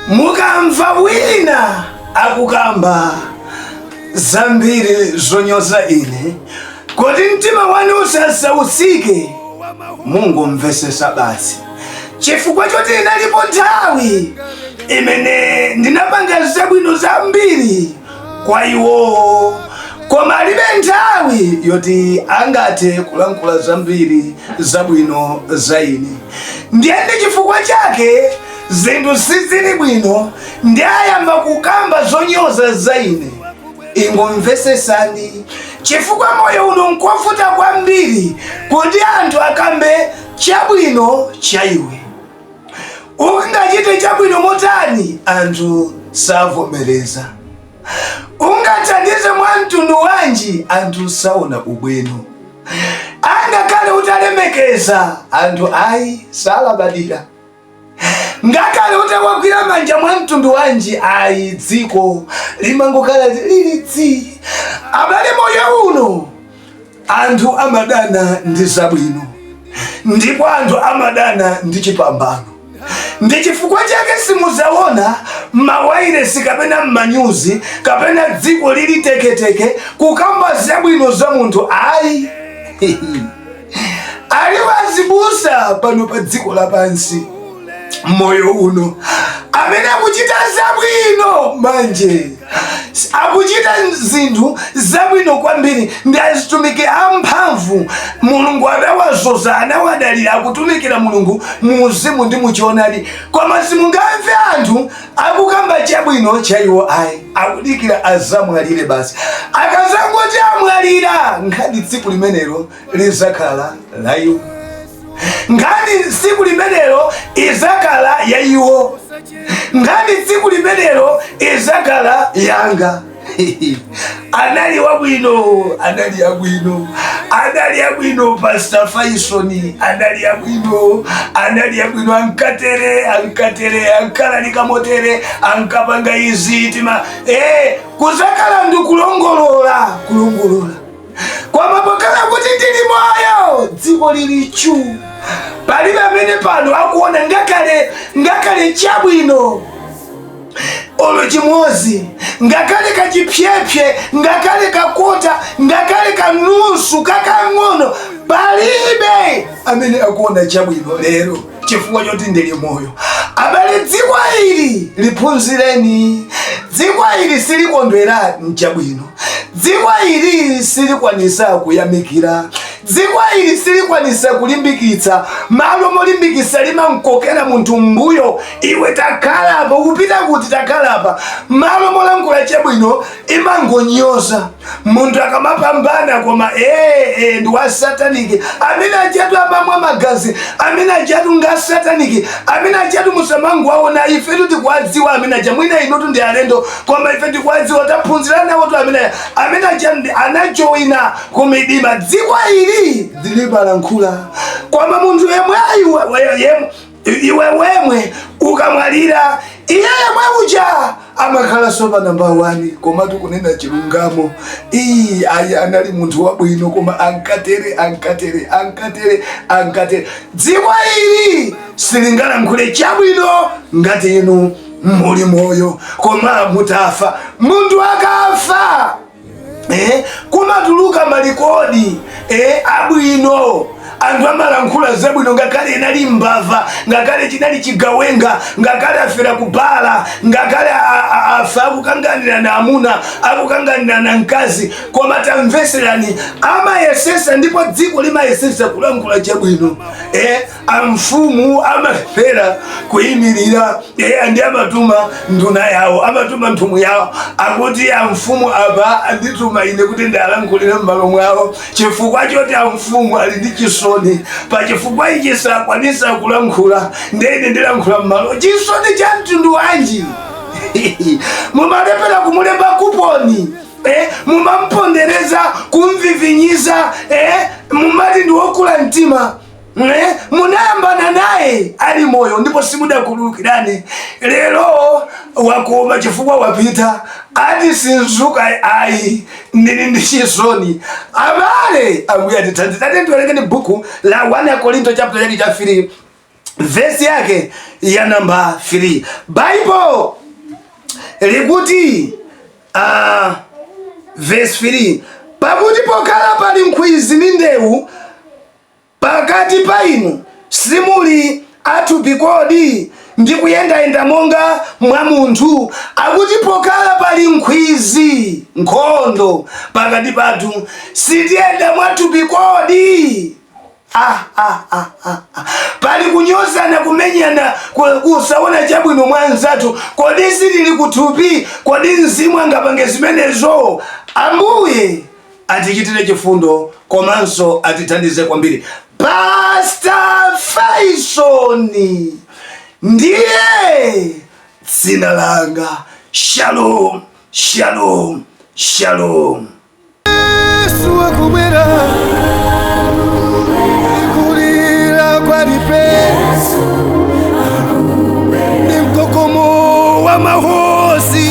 Mukamva wina akukamba zambiri zonyoza ine, kuti mtima wanu usasautsike, mungomvesesa basi. Chifukwa choti inalipo nthawi imene ndinapanga zabwino zambiri. kwa iwo koma alibe nthawi yoti angathe kulankhula zambiri zabwino za ine ndiye ndi chifukwa chake zinthu sizili bwino ndi ayamba kukamba zonyoza za ine ingomvesesani chifukwa moyo uno nkovuta kwambiri kuti anthu akambe chabwino cha iwe ungachite chabwino motani anthu savomereza ungathandize mwa mtundu wanji anthu saona ubwino angakhale utalemekeza anthu ayi salabadira ngakhale utawagwira manja mwa mtundu wanji ayi dziko limangokhala lili zii abale moyo uno anthu amadana ndi zabwino ndipo anthu amadana ndi chipambano ndi chifukwa chake simuzaona mawairesi kapena mmanyuzi kapena dziko lili teketeke kukamba zabwino za munthu ayi alipo azibusa pano pa dziko lapansi moyo uno amene akuchita zabwino manje akuchita zinthu zabwino kwambiri ndi azitumiki amphamvu mulungu anawazoza anawadalitsa akutumikira mulungu mu uzimu ndi muchionadi koma simungamve anthu akukamba chabwino cha iwo ayi akudikira azamwalire basi akazangoti amwalira nkhani tsiku limenelo lizakhala la iwo nkhani tsiku limenelo izakhala ya iwo nkhani tsiku limenelo izakhala yanga anali wabwino anali abwino anali abwino pastor Fyson anali abwino anali abwino ankatere ankatere ankalalika motere ankapanga izi tima eh kuzakhala ndi kulongolola kulongolola koma pokhala kuti ndili moyo dziko lili chu palibe amene pano akuona ngakhale ngakhale chabwino olo chimodzi ngakhale kachipyepye ngakhale kakota ngakhale kanusu kakang'ono palibe amene akuona chabwino lero chifukwa choti ndili moyo abale dziko ili liphunzireni dziko ili silikondwera n'chabwino dziko ili silikwanisa kuyamikira dziko ili silikwanisa kulimbikitsa malo molimbikitsa limamkokera munthu mbuyo iwe takhala apa ukupita kuti takhala apa malo molankhula chabwino limangonyoza munthu akamapambana koma ee ee ndi wa sataniki amene ajatu amamwa magazi amene ajatu nga sataniki amene ajatu musamangwaona ifetu tikuwadziwa amene aja mwina inutu ndi alendo koma ife tikuwadziwa taphunzira nawotu amene amene aja ndi anajoina kumidima dziko ili lilipalankhula koma munthu yemwe ayiwe yemwe iwe wemwe ukamwalira iye yemwe uja amakhala sopa namba 1 koma tikunena chilungamo ii ayi anali munthu wabwino koma ankatere ankatere ankatere ankatere dziko ili silingalankhule chabwino ngati inu muli moyo koma mutafa munthu akafa eh, kumatuluka marekodi eh, abwino anthu amalankhula zabwino ngakhale inali mbava ngakhale chinali chigawenga ngakhale afera kubala ngakhale afa akukanganira na amuna akukanganira na mkazi koma tamveserani amayesesa ndipo dziko limayesesa kulankhula chabwino eh? amfumu amalephera kuyimirira eya ndi amatuma nduna yawo amatuma nthumwi yawo akuti amfumu apa andituma ine kuti ndiwalankhulire m'malo mwawo chifukwa choti amfumu ali ndi chisoni pa chifukwa ichi sakwanisa kulankhula ndiye ine ndilankhula m'malo chisoni cha mtundu wanji mumalephera kumulemba kuponi eh, mumampondereza kumfinyiza eh, mumati ndiwokula mtima Eh, munayambana naye ali moyo ndipo simudakhululukirane lero wakoma chifukwa wapita ati simzukwa ayi ndili ndi chisoni abale ambuye atithandize tatiwerengeni buku la 1 Akorinto chapter chake cha 3 vesi yake ya namba 3 bible likuti uh, ah, vesi 3 pakuti pokhala pali nkhwidzi ndi ndewu Pakati pa inu simuli a thupi kodi, ndi kuyendayenda monga mwa munthu akuti pokhala pali nkhwidzi, nkhondo, pakati pathu, sitiyenda mwa thupi kodi? Ha-ha-ha-ha-ha! Pali kunyozana, kumenyana, kusawona chabwino mwa anzathu, kodi sitili kuthupi? Kodi Mzimu angapange zimenezo, Ambuye? atichitire chifundo komanso atithandize kwambiri. Pastor Faison ndiye dzina langa. Shalom, shalom, shalom. Yesu akubwera kulira kwa lipenga ni mkokomo wa mahosi